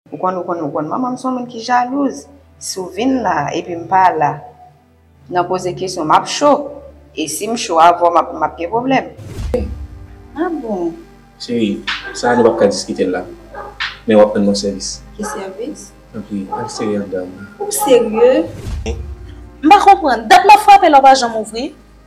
Ou konn ou konn ou konn manman m son moun ki jalouz si w vin la epi m pa la nan poze kesyon map cho e si m cho avè w map map gen pwoblèm. Cheri, Ah bon? Cheri, Sa a nou pap ka diskite l la men wap rann m yon sèvis. Ki sèvis? Tanpri al sere anndan an. Ou serye? M pa konprann, dat map frape la ou pa janm ouvri?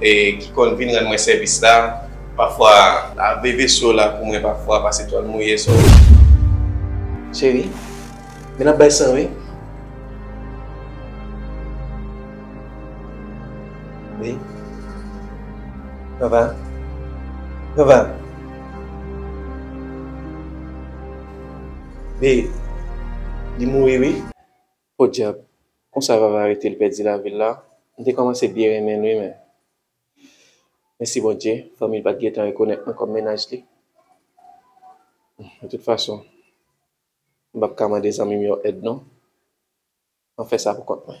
e ki konn vin rann mwen sèvis la pafwa. Lave veso la pou mwen pafwa pase twal mouye so. Cheri, men l ap bay san wi. Wi. Vava. Vava. Vee. Li mouri wi. Podyab! Konsa Vava rete l pèdi lavi l la? M te kòmanse byen renmen l wi men mèsi Bondye fanmi l pa t gentan rekonèt mwen kòm mennaj li. De tout fason, m p ap ka mande zanmi m yo èd non. M ap fè sa poukont mwen.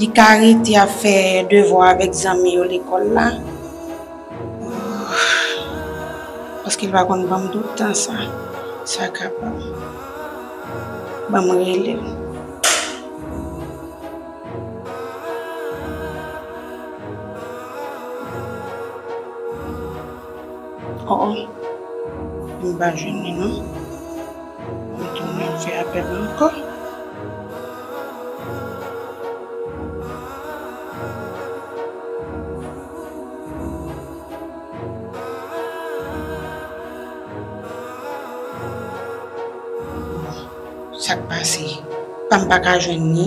Li ka rete ap fè devwa avèk zanmi yo lekòl la. Paske l pa konn ban m tout tan sa. Sa kapab. Ban m rele l. O, o. M pa jwenn li non. Mwen tounen ap fè apèl la ankò. Bon, sak pase? Pam paka jwenn ni?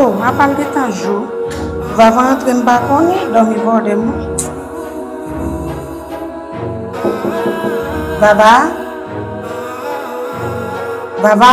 Oh apal gentan jou Vava antre m pa konnen dòmi bòde m wi Vava Vava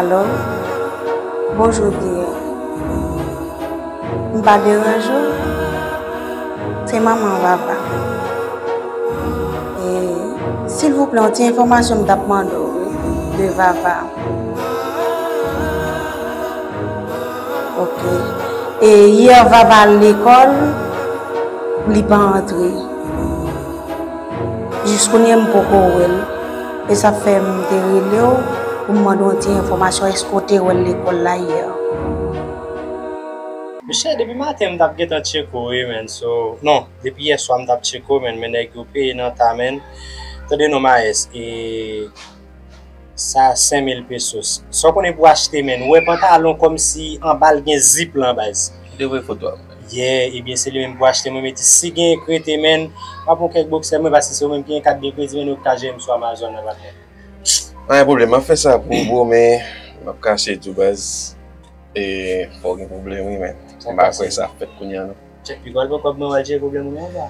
Alò, bonjou biyè. M pa deranje w? Se manman Vava. E, silvouplè, yon ti enfòmasyon m t ap mande w wi, de Vava. Ok. E yè Vava al lekòl, li pa antre. Jiskounye m poko wè l. E sa fè m te rele w pou m mande w yon ti enfòmasyon, èske w te wè l lekòl la yè? Mesye depi maten mtap gentan tcheko wi menn so non depi yèswa mtap tcheko menn men nèg yo peye nan ta menn tande non maes e sa 5000 pesos sa w konnen pou achte menn wè pantalon kòmsi anbal gen zip lan baz. Li te voye foto a. Yeah ebyen se li menm pou achte mwen metis si gen k rete menn map pran kèk boksè mwen paske se ou menm ki gen kat de kredi menn ok ta jwennem sou amazon nan patnè. Pa gen pwoblèm map fè sa pou ou bro men map kache tou baz e fòw gen pwoblèm wi men m pa kwè sa ap fèt kounya non. Chèk piga w al pran kòb mwen wal jere pwoblèm ou menm la.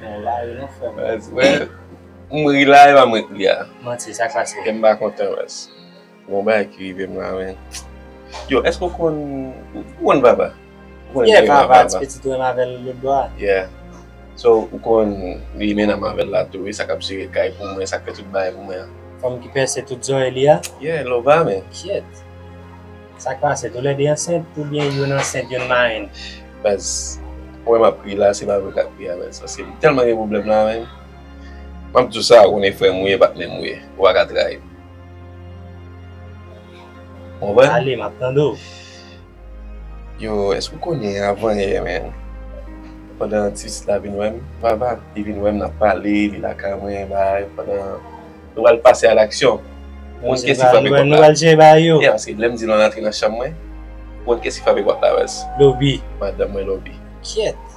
Bon la wi non frèm. Baz wè m ri la epa mwen k ri a. Manti sa k pase. Kèm pa kontan baz. Gon bagay ki rivem la men. Yo eske ou konn ou konn vava? Ou konn yeah vava ti pitit ou menm avèl lòt bò a. Yeah so ou konn li menn anm avèl la tou wi sa kap jere kay pou mwen sak fè tout bagay pou mwen an. Fanm ki pèse tout zòrèy li a? Yeah lova men. Kyèt sak pase tou lè 2 ansent oubyen youn ansent youn marenn? Baz ou wè map ri la se pa vre kap ri avèl se paske li tèlman gen pwoblèm la menn. Map diw sa ou konnen frèm ou ye bat menm ou ye ou paka trayim. Ou konprann? Ale, map tande w. Yo, èske ou konnen avan yè men, pandan atis la vin wè m, Vava, li vin wè m nap pale, li lakay mwen, bagay, pandan nou pral pase a laksyon. Ou konn kèsi frape pòt la? Nou pral jwe bagay yo. Yas, lè m di l antre nan chanm mwen, ou konn kèsi frape pòt la, Yas? Lobi. Madanm mwen Lobi. Kyèt.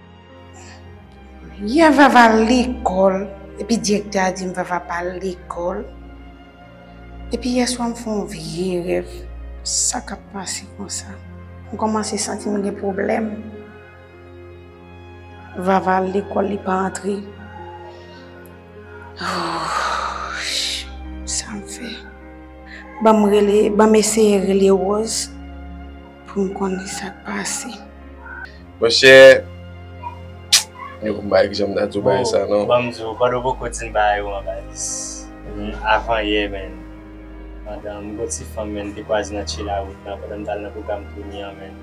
Yè vava lekòl epi direktè a dim vava pa al lekòl epi yè swa m fè yon vye rèv sa kap pase konsa m kòmanse santi m gen pwoblèm vava al lekòl li pa antre oohh sam fè banm rele banm eseye rele rose. Pou m konnen sa k pase. Monchè, m pa janm ta di w bagay sa non. Ban m di w, ban nou poko di m bagay ou an Balis. Avan yè menn, pandan m gen ti fanm menn te kwaze nan Tchye Lawout la, pandan m t al nan pwogram Tony an menn.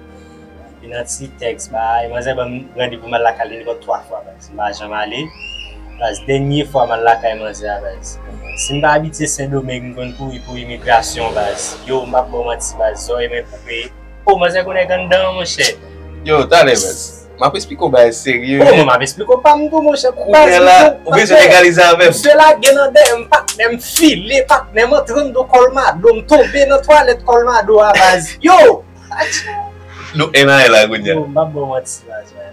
Epi nan ti tèks bagay, manzè ban m randevou m al lakay li minimòm 3 fwa Balis. Sim pa janm ale baz dènye fwa mal lakay manzè a baz sim pa abitye sendomeng m konn kouri pou imigrasyon baz yow m pap baw manti baz zòrèy mwen koupe oh manzè konn èg anndan an monchè. Yow talè baz map esplike w bagay serye wi. Oh mwen map esplike w pam tou monchè baz kounye la ou bezwen legalize avèm. Misye lage nan dèyè m patnè m file patnè m antre anndan kolmado m tonbe nan twalèt kolmado a baz yow atchè. Nou 1 ane la kounye a. Yow m pap baw manti baz mwen.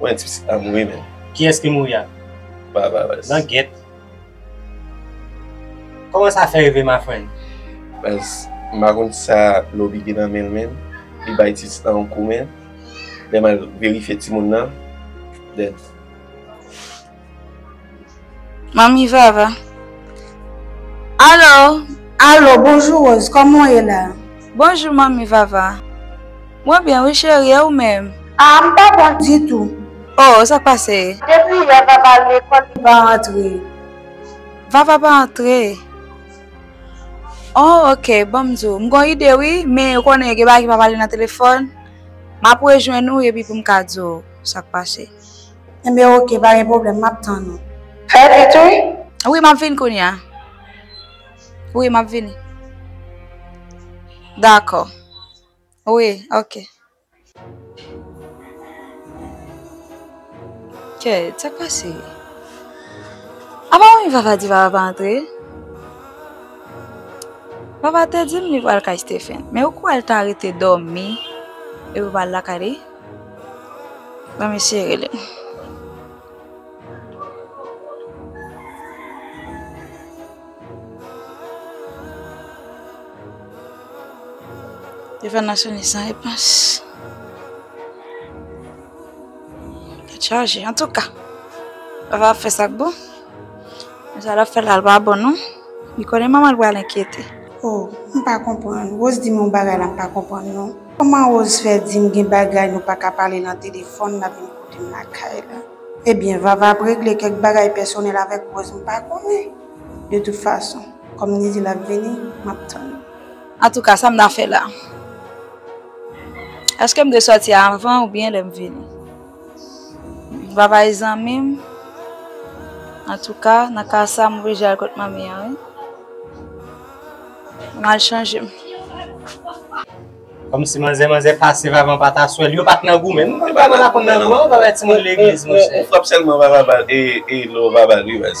Mwen ti pitit pa mouri menm. Kiyès ki mouri a? Barabas. Langyèt. Kòman sa fè rive ma friend? Baz, m pa konn sa Loby gen nan men l menm, li bay ti pitit lan yon kou men, lè m al verifye timoun lan dead. Manmi Vava. Alo! Alo, bonjou Rose, kòman w ye la? Bonjou Manmi Vava. Mwen byen wi cheri, e ou menm? Ah, m pa bon ditou. Oh, sa k pase? Depi yè Vava al lekòl, li pa antre. Vava pa antre? Oh, ok, bon m di w. M gen yon ide wi, men ou konnen gen bagay ki pa pale nan telefòn. M ap rejwenn ou epi pou m ka di w sa k pase. Enben ok pa gen problem map tann ou. Fè vit wi. Wi map vin kounya. Wi map vini. Dakò. Wi ok. Kè sak pase. A pa wè vava di vava pa antre. Vava te dim li pral kay Stephen. Men ou kwè l ta rete domi epi pral lakay li. Ban mesye rele m. Telefòn nan sone san repons. Li chaje antouka. Vava ap fè sa k bon. Sa lap fè la pa bon non. Li konnen manman l pral enkyete. Oh m pa konprann. Rose di m yon bagay la m pa konprann non. Kòman Rose fè di m gen bagay nou pa ka pale nan telefòn lap vin kote m lakay la. Ebyen Vava ap regle kèk bagay pèsonèl avèk Rose m pa konnen. De tout fason kòm li di lap vini map tann. Antouka sa m ta fè la. Eske m dwe sòti avan oubyen lè m vini. Bye bye zanmim. An tou ka nan ka sa m oblije al kot manmi an wi. M al chanje m. Kòmsi manzè manzè pasiv avan pa ta swèl. Yo pa t nan goumen. M pa nan lakou nan non. Ou frap sèlman ou pa ba l e lè w pa ba l wi baz.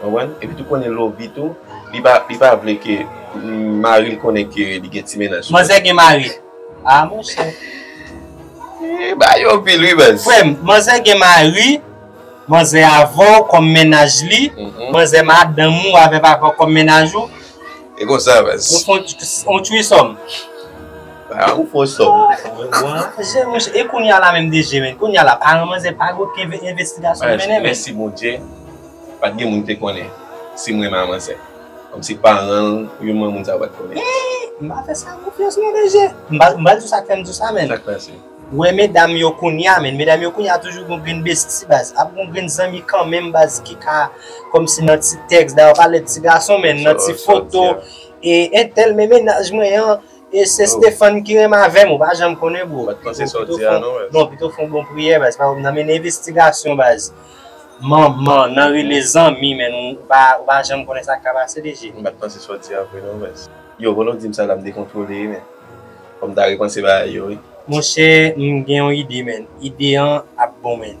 Konprann? Epi tou konnen Lovie tou, li pa li pa vle ke maril konnen ke li gen ti mennaj sou li. Manzè gen mari? Ah monchè. Eeh bagay yo anpil wi baz. Frè m, manzè gen mari, manzè avè w kòm mennaj li, manzè madanm ou avè papa w kòm mennaj ou. E konsa baz. Ou fon yon trisòm. Sa ou fò sò. Jé mouche e kounya la menm DG men kounya la paran manzè pa gen okenn envestigasyon ki mennen men. Mèsi Bondye pat gen moun ki te konnen si m renmen a manzè. Kòmsi paran l ou byen manman moun sa yo pat konnen. Eehh m pa fè sa konfyans non DG. M pa m pa di w sa k fè m di w sa men. Sa k pase? Ou wè medam yo kounya men medam yo kounya toujou gon grenn besti baz. Ap gon grenn zanmi kanmenm baz ki ka kòmsi nan ti tèks da yo pa lè ti gason men nan ti foto e entèl men mennaj mwen an E se Stephane ki renmen avèm ou pa janm konnen bro. Pat panse sa w di a non baz. Non pito fon bon priyè baz pa wap nan mennen envestigasyon baz. M'en nan rele zanmi men ou pa ou pa janm konnen sak ka pase DG. M pat panse sa w di a vre non baz. Yo pandan w dim sa la m dekontwole men fò m ta repanse bagay yo wi. Monchè m gen yon ide menn. Ide an ap bon menn.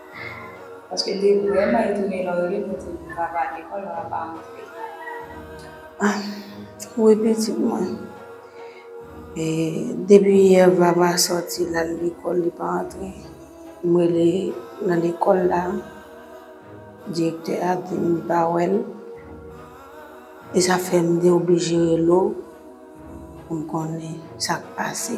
Paske li vreman e tounen lò rele pou di li pa vale lekòl lò a pa antre. Ah wi pitit mwen. E depi yè vava sòti lal lekòl li pa antre. M rele nan lekòl la direktè a di m li pa wèl. E sa fè m te oblije rele w pou m konnen sak pase.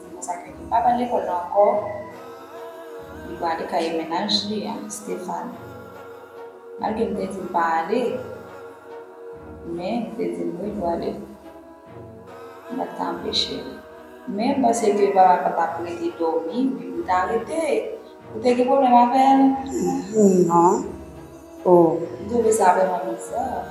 Se konsa ke li pa pral lekòl la ankò, li gade kaye mennaj li a, Stéphane. Malgre m te di l pa ale, men li te di m wi pou ale. M pa t ka anpeche l. Men m panse ke papa l pa t ap rete dòmi epi pou l ta rete. Ou te gen pwoblèm avè l? Non. O. M twouve sa vrèman bizar.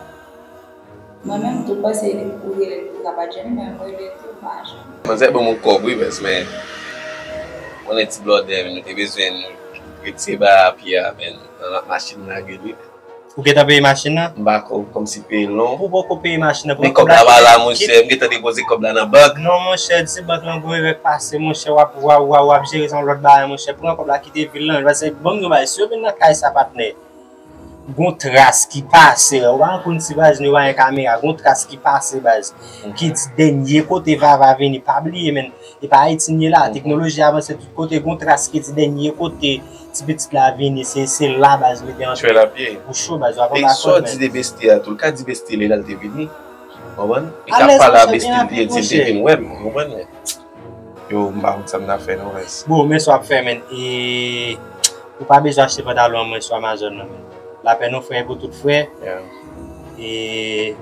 Mwen menm tou pase se li ou rele pou kaba jenny men ou rele tou ou pa janm. Manzè banm yon kòb wi baz men ou konnen ti blòdè nou te bezwen nou ret se ba a pye a men nan nan machin nan lagel wi men. Ou gentan peye machin nan? M pa ko kòm si peye l non. Ou poko peye machin nan pran kòb la kite. Men kòb la pa la monchè m gentan depoze kòb la nan bank. Non monchè di bank lan gon erè k pase monchè wap waww wap jere sa yon lòt bagay monchè pran kòb la kite vil lan pase banm di yon bagay si yo vin nan kay sa patnè Gon tras ki pase ou pa konn si baz nou pa gen kamera gon tras ki pase baz ki di dènye kote vava vini pa bliye menn e pa ayiti nou ye la teknoloji avanse tout kote gon tras ki di dènye kote ti pitit la vini se la baz mete antre fè la pye ou cho baz wap anba kòd menn e sa w di de bestie a tou l ka di bestie l e lal te vini ou konprann li ka pale a bestie l li di l te vin wè m ou konprann. Yo m pa konn sa m ta fè non res. Bro men swa ap fè menn e ou pa bezwen achte pantalon an mwen swa amazon nan menn lapè non frè pou tout frè e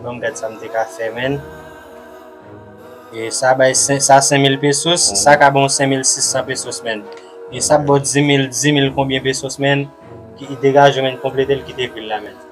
banm gad sa m te ka fè menn e sa bay sa 5000 pesos sa ka banw 5600 pesos menn e sa ap baw 10000 10000 konbyen pesos menn degaje menn konpletel kite vil la menn.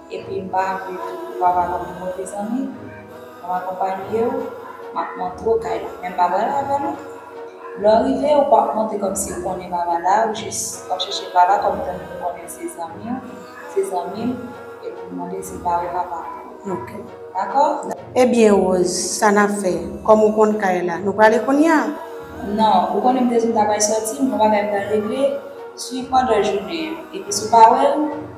Epi mpa vle tout pouvwa pa nan menw mezanmi Map akonpanyew Map montrew kay la men mpa pral avèw non Lèw rive ou pap monte kòmsi ou konnen Vava la ou jis wap chèche Vava kòm tann ou konnen se zanmiw se zanmim Epiw mande se pa ou papa ok dakò. Ebyen Rose sa nap fè kòm ou konn kay la nou prale kounya? Non ou konnen mte di mta pral sòti m gon bagay m pral regle swiv pandan jounen an epi si w pa wèl.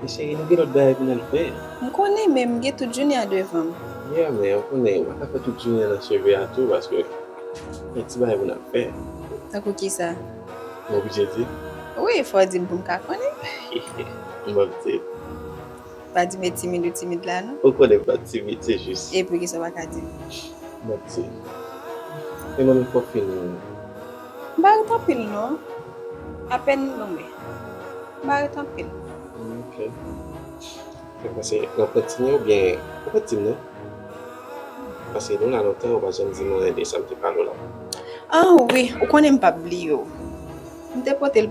Men cheri nou gen lòt bagay pou n al fè. M konnen men m gen tout jounen an devan m. Yeah men ou konnen mwen ka fè tout jounen an nan cheve a tou paske gen ti bagay pou n al fè. Tankou kisa? M oblije di? Wi fò w di m pou m ka konnen. Hehe m ap di l. Pa di m e timid ou timid la non. Ou konnen m pa timid se jis. E poukisa w pa ka di m? M ap di l. Men manmi fò w fini. M pa ret anpil non. Apèn m lonmen. M pa ret anpil. Ok. Mwen panse w ap retire w oubyen ou pa t di m non. Paske nou la lontan ou pa janm di m anyen de sa m te pale w la. Ah wi, ou konnen m p ap bliye w. M te pote l.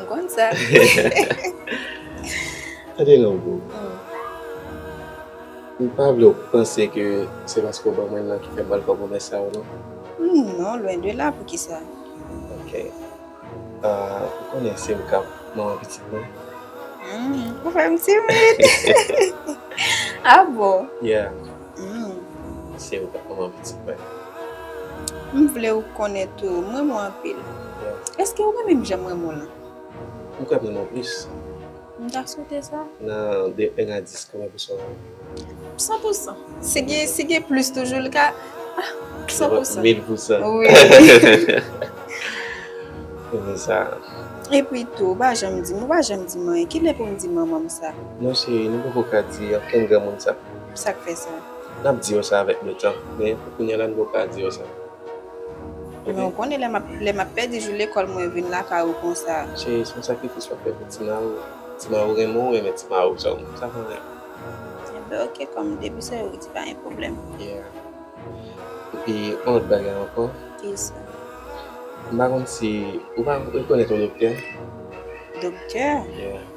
M konn sa. Tande non boo. M pa vle w panse ke se paske w ban mwen nan ki fè m pral fè w pwomès sa yo non. Non, lwen de la, poukisa? Ok. Ou konnen se ou k ap manman pitit mwen? Ou fè m timid. Ah bon? Yeah. Mesi ou poko manman pitit mwen. M vlew konnen tou m renmen w anpil. Eske ou renmen m janm renmen w lan? Ou kwè m renmen w plis. M ta swete sa. Nan de 1 a 10 konbyen pou swa renmen m? San pou san. Si gen plis toujou li ka San pou san. Mil pou san. Wi. Ou renmen sa. Epi tou ou pa janm di m ou pa janm di m anyen. Kilè pou m di manman m sa? Non cheri nou poko ka di okenn granmoun sa. Sa k fè sa? N ap di yo sa avèk letan, men pou kounye a la nou poko ka di yo sa. Men ou konnen lè m ap pèdi jou lekòl mwen vin lakay ou konsa. Cheri, se yon sakrifis w ap fè pou ti ma ou. Ti ma ou renmen w, ou renmen ti ma ou, sa ou pa renmen. Enben ok, kòm depi se ou ki di pa gen pwoblèm. Yeah. Epi yon lòt bagay ankò. Ki sa? M pa konn si ou pa rekonèt yon doktè. Doktè? Yeah.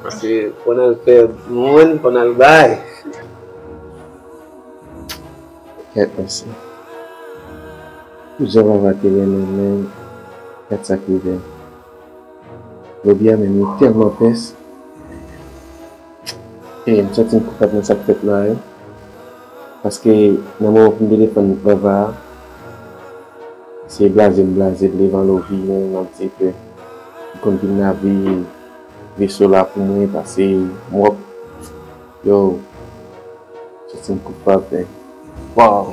Paske fò nan pè moun, fò nan bay. Kèt mesye. Pou jan vava te renmen men, gad sak rive l. Jodi a menm li tèlman pès. Eyy m santi m koupab nan sak fèt la wi. Paske nan moman pou m te defann vava a, se blaze m blaze l devan Lovie menm lap di ke li konn vin nan vi l. Veso la pou mwen pase mwop yow soti m koupab men waww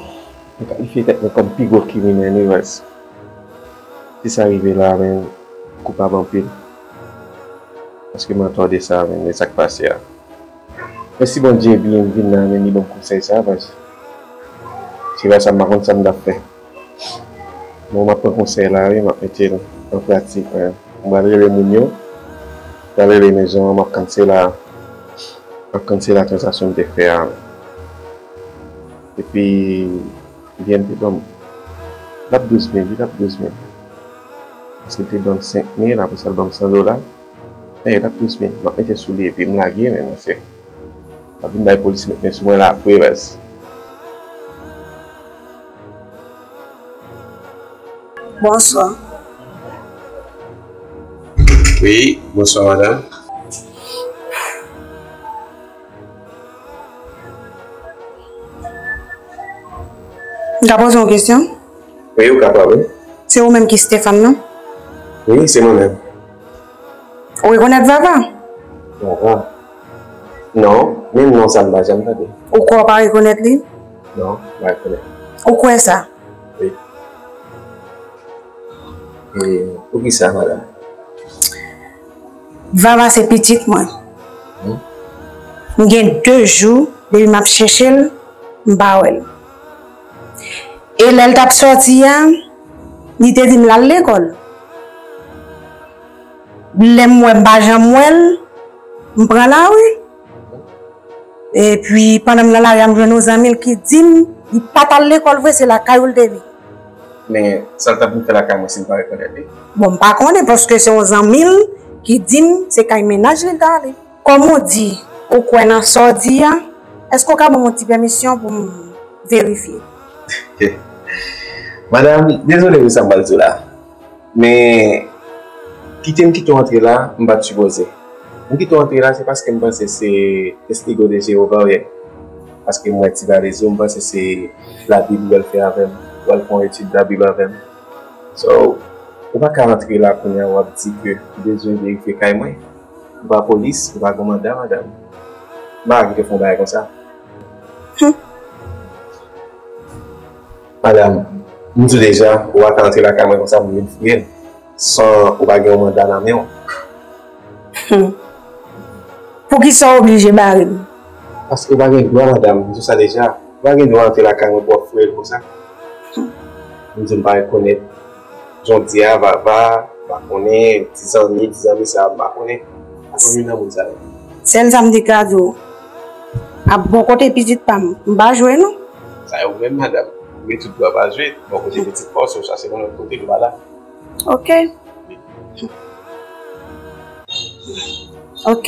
mwen kalifye tèt mwen kòm pi gwo kriminèl wi wèz si sa rive la men m koupab anpil paske mwen atò de sa men sak pase a mèsi Bondye byen m vin la men li banm konsèy sa paske si se pa sa m pa konn sa m tap fè. Bon map pran konsèy la wi map metel an pratik wi m pral rele moun yo m pral rele mezon an map kansela map kansela transaksyon m te fè a epi biyè m te banm lap 12 mil wi lap 12 mil paske l te banm 5 mil apresa l banm 100 dola lap 12 mil map mete sou li epi m lage men mwen fè. Wap vin bay polis met men sou mwen la Preres. Bonswa. Wi, bonswa madam. M ka poze yon kesyon? Wi, ou kapab wi. Se ou menm ki Stefan non? Wi, se mwen menm. Ou rekonèt Vava? Vava? Non, menm non sa m pa janm tande. Ou kwè w pa rekonèt li? Non, m pa rekonèt li. Ou kwè sa? Wi. E poukisa, madanm? Vava se pitit mwen. M gen de jou depi m ap chèche l, m pa wè l. E lè l t ap soti a, li te di m l al lekòl. Lèm wè m pa janm wèl m pran lari epi pandan m nan lari a m jwenn yon zanmi l ki dim li pat al lekòl vre se lakay ou l te vin. Men sal tap vin fè lakay mwen sim pa rekonèt li? Bon m pa konnen paske se yon zanmi l ki dim se kay mennaj li l ta ale. Kòm ou di ou kwè nan sa w di a èske w ka banm yon ti pèmisyon pou m verifye? Madam dezole wi sa m pral di w la. Men kite m kite w antre la, m pa t sipoze. M kite w antre la se paske m panse se Testigo de Jewova w ye. Paske m wè ti valiz ou, m panse se Labib ou wè l fè avè m, w al fè yon etid Labib avè m. So, ou pa ka antre la kounye a w ap di ke ou bezwen verifye kay mwen. Ou pa polis, ou pa gen manda, madanm. M pa ka kite w fè yon bagay konsa. Hum! Madam, m di w deja, ou pa ka antre lakay mwen konsa pou vin fouye m, san ou pa gen yon manda nan men w. Hum! Poukisa w oblije bare m? Paske ou pa gen dwa, madam, m di w sa deja. Ou pa gen dwa antre lakay mwen pou w ap fouye l konsa. M di m pa rekonèt. Jòdi a vava pa konnen ti zanmi ti zanmi sa m pa konnen pa konn youn nan moun sa yo. Sèl sa m te ka di w a bon kote pitit pa m m pa jwe non. Sa yo menm madam Mwen tout dwa pa jwe bon kote pitit pa w si w chache nan lòt kote li pa la. Ok. Ok.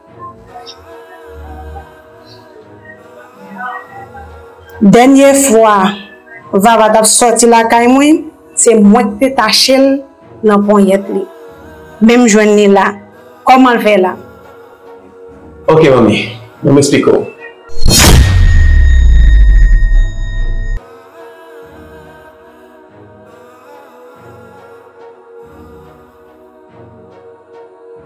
Dènye fwa Vava t ap sòti lakay mwen, se mwen k te tache l nan ponyèt li. Men m jwenn li la. Kòman l fè la? Ok manmi, men m esplike w.